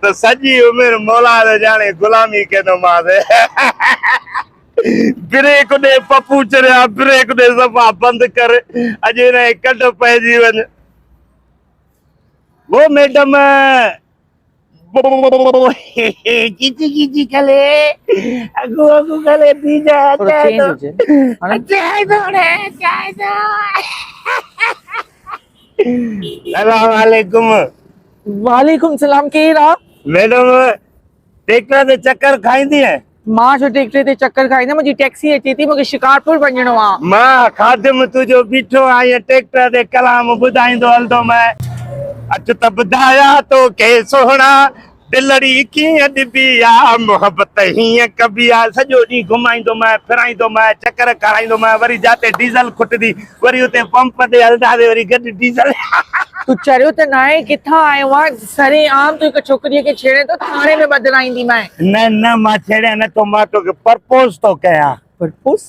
ته سڄي عمر مولا جو ڄاڻي غلامي ڪيندومانس. بريڪ ڏي پپو چريا بريڪ ڏي صفا بند ڪر اڄ هن کي ڪڍ پئجي وڃ. وو ميڊم چيچي چيچي کلي اگهو اگهو کلي پي جا چانهه ٿو چانهه ٿو هڻي چانهه ٿو. سلام عليڪم. وعليڪم سلام ڪير آ. ميڊم ٽيڪٽر تي چڪر کائيندي آهي. مان ڇو ٽيڪٽر تي چڪر کائيندم منهنجي ٽيڪسي اچي ٿي مونکي شڪارپور وڃڻو آ. مان خادم تنهنجو بيٺو آهيان ٽيڪٽر تي ڪلام ٻڌائيندو هلندو مئي. اچ ته ٻڌايان توکي سهڻا دلڙي ڪيئن ڏبي آ، محبت هيئن ڪبي آ. سڄو ڏينهن گهمائيندومانء، ڦرائيندومانء، چڪر کارائيندومانء، وري جاتي ڊيزل کٽندي، وري اتي پمپ تي هلنداسين، وري گڏ ڊيزل. تون چريو ته ناهين؟ ڪٿان آيو آهين؟ سري عام تون هڪ ڇوڪريء کي ڇيڙين ٿو، ٿاڻي ۾ ٻڌرائينديمانء. نه نه، مان ڇيڙيان نٿو، مان توکي پرپوز ٿو ڪيان. پرپوز؟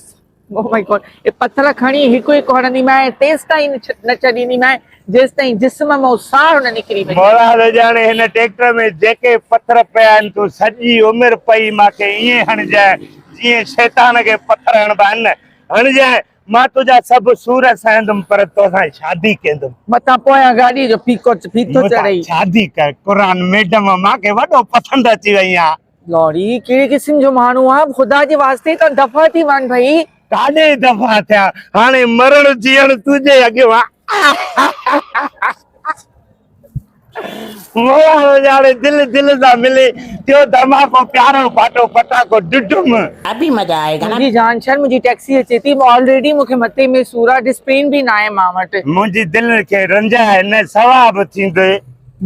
او مائي گاڊ اي پٿر کڻي هڪ هڪ هڻنديمانء تيستائين نه ڇڏينديمانء جيستائين جسم مئو ساهه نه نڪري وڃي. مولا ته ڄاڻي هن ٽيڪٽر ۾ جيڪي پٿر پيا آهن تون سڄي عمر پئي مان کي ائين هڻجانء جيئن شيطان کي پٿر هڻبا آهن نه هڻجانء مان تنهنجا سڀ سور سهندم پر توسان شادي ڪيندم. متان پويان گاڏيء جو ڦيٿو چڙهي. متان شادي ڪر قرآن ميڊم مان کي وڏو پسند اچي وئي آهي. لوڙي هي ڪهڙي قسم جو ماڻهو آ خدا جي واسطي تان دفع ٿي وڃ ڀئي. ڪاڏي دفع ٿيا هاڻي مرڻ جيئڻ تنهنجي اڳيان آ مولا هو ڄاڻي دل دل سان ملي ٿيو ڌماڪو پيارو ڦاٽو پٽاڪو ڊڊم. ابي مزا آئي گا نا. منهنجي جان شهر منهنجي ٽيڪسي اچي ٿي آلريڊي مون کي مٿي ۾ سور آ ڊسپين به ناهي مان وٽ. منهنجي دل کي رنجاء نه ثواب ٿيندي.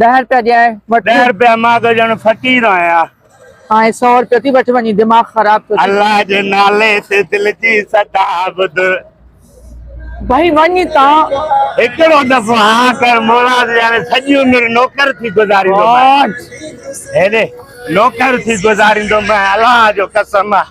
ڏهه رپيا ڏيانء وٺ. ڏهه رپيا مان ته ڄڻ فقير آهيان. آهين سؤ رپيو ٿي وٺ وڃي دماغ خراب ٿيو ٿي. الله جي نالي تي دل جي صدا ٻڌ. ڀئي وڃ هتان. هڪڙو دفعو ها ڪر موراد ڄاڻي سڄي عمر نوڪر ٿي گذاريندومانء هيڏي نوڪر ٿي گذاريندومانء الله جو قسم آهي.